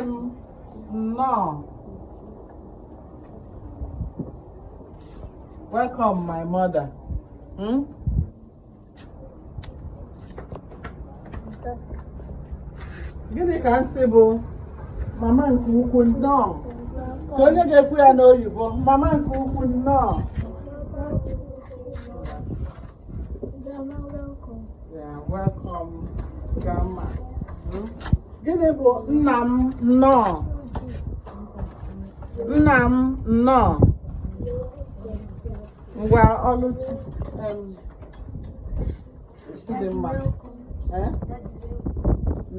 m nnọọ welcome my mother hmm? gịnị ka m sị bụ mama nke ukwu nnọọ ka onye ga-ekwu ya n'oyibo mama nke ukwu nnọọ gịnị bụ nna m nnọọ nna m nnọọ ngwa ọlụchi dị mma eh?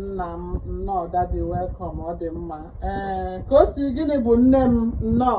nna m nnọọ daddy welcome ọ dị mma ee eh, kosi gịnị bụ nne m nnọọ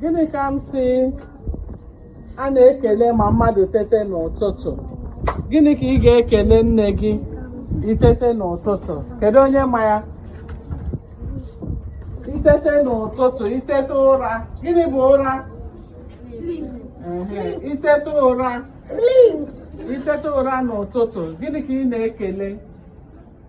gịnị ka m sị a na-ekele ma mmadụ tete n'ụtụtụ gịnị ka ị ga-ekele nne gị itete n'ụtụtụ kedu onye ma ya itete n'ụtụtụ itete ụra gịnị bụ ụra itete ụra itete ụra n'ụtụtụ gịnị ka ị na-ekele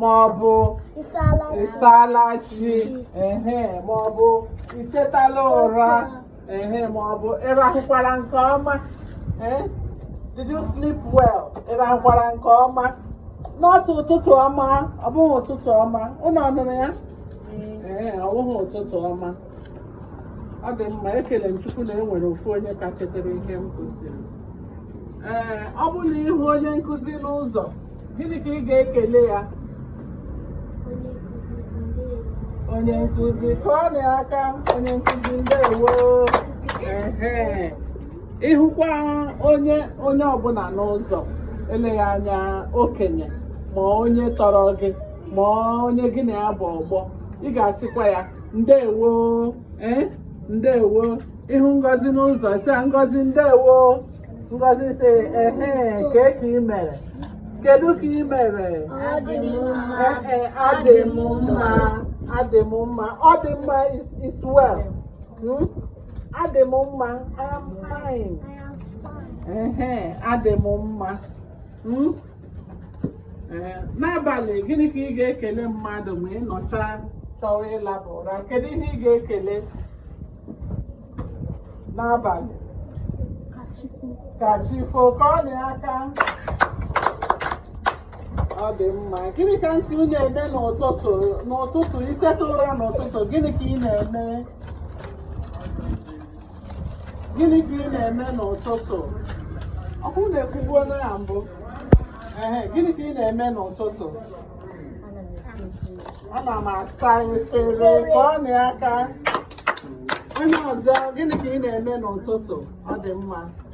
ma ọ bụ ị saala chi ehe ma ọ bụ itetala ụra ehe ma ọ bụ ịrahụkwara nke ọma eh? did you sleep well ịrahụkwara nke ọma n'otu ụtụtụ ọma ọ bụghị ụtụtụ ọma unu ọ nụrụ ya ee eh, ọ bụghị ụtụtụ ọma ọ dị mma ekele m chukwu na e nwere ofu onye ka chetara ihe m kụziri ee ọ bụ na ị hụ onye nkụzi n'ụzọ gịnị ka ị ga-ekele ya onye nkụzi kụọnụ ya aka onye nkụzi ndewo ehe ị hụkwa onye onye ọbụla n'ụzọ eleghị anya okenye ma onye tọrọ gị ma onye gị na ya bụ ọgbọ ị ga-asịkwa ya ndewo ee eh, ndewo ị hụ ngozi n'ụzọ sị ya ngozi ndewo ngozi sị ehe kee ka ị mere kedu ka ị mere ee eh, adị m mma adị m mma ọ dị mma is well hmm? adị m mma I am fine adị m mma hmm? ee n'abalị gịnị ka ị ga-ekele mmadụ ma ị nọcha chọwa ịlaba ụra kedu ihe ị ga-ekele n'abalị ka chi fo kụọnụ ya aka ọ dị mma gịnị ka m sị unu eme n'ụtụtụ n'ụtụtụ i teta ụra n'ụtụtụ gịnị ka ị na-eme gịnị ka ị na-eme n'ụtụtụ ọkụ na-ekwugbuo na ya mbụ ehe gịnị ka ị na-eme n'ụtụtụ ana m asa efere kụọnụ aka onye ọzọ gịnị ka ị na-eme n'ụtụtụ ọ dị mma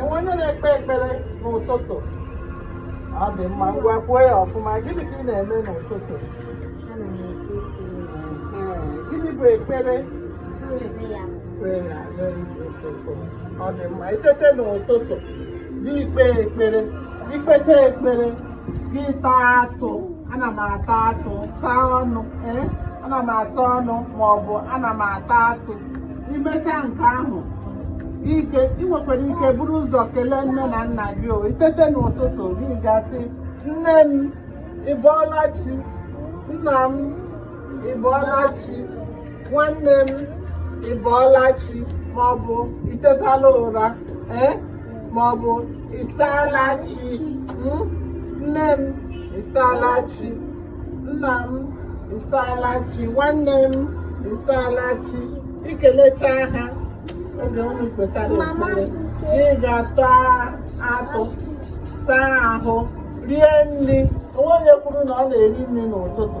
onwe onye na-ekpe ekpere n'ụtụtụ ọ dị mma ngwa kwuo ya ọfụma gịnị ka ị na-eme n'ụtụtụ gịnị bụ ekpere ọ dị mma itete n'ụtụtụ gị kpee ekpere ikpecha ekpere gị taa atụ ana m ata atụ saa ọnụ ee ana m asa ọnụ maọbụ ana m ata atụ imecha nke ahụ ike ị nwekwara ike buru ụzọ kelee nne na nna gị o itete n'ụtụtụ gị gaa sị nne m ị bọọla chi nna m ị bọọla chi nwanne m ị bọọla chi ma ọ bụ itetala ụra ee ma ọ bụ ịsaala chi mm? nne m ịsaala chi nna m ịsaala chi nwanne m ịsaala chi ikelecha ha oge unu kpechara ekpere ị gaa taa atụ saa ahụ rie nri onwe onye kwuru na ọ na-eri nri n'ụtụtụ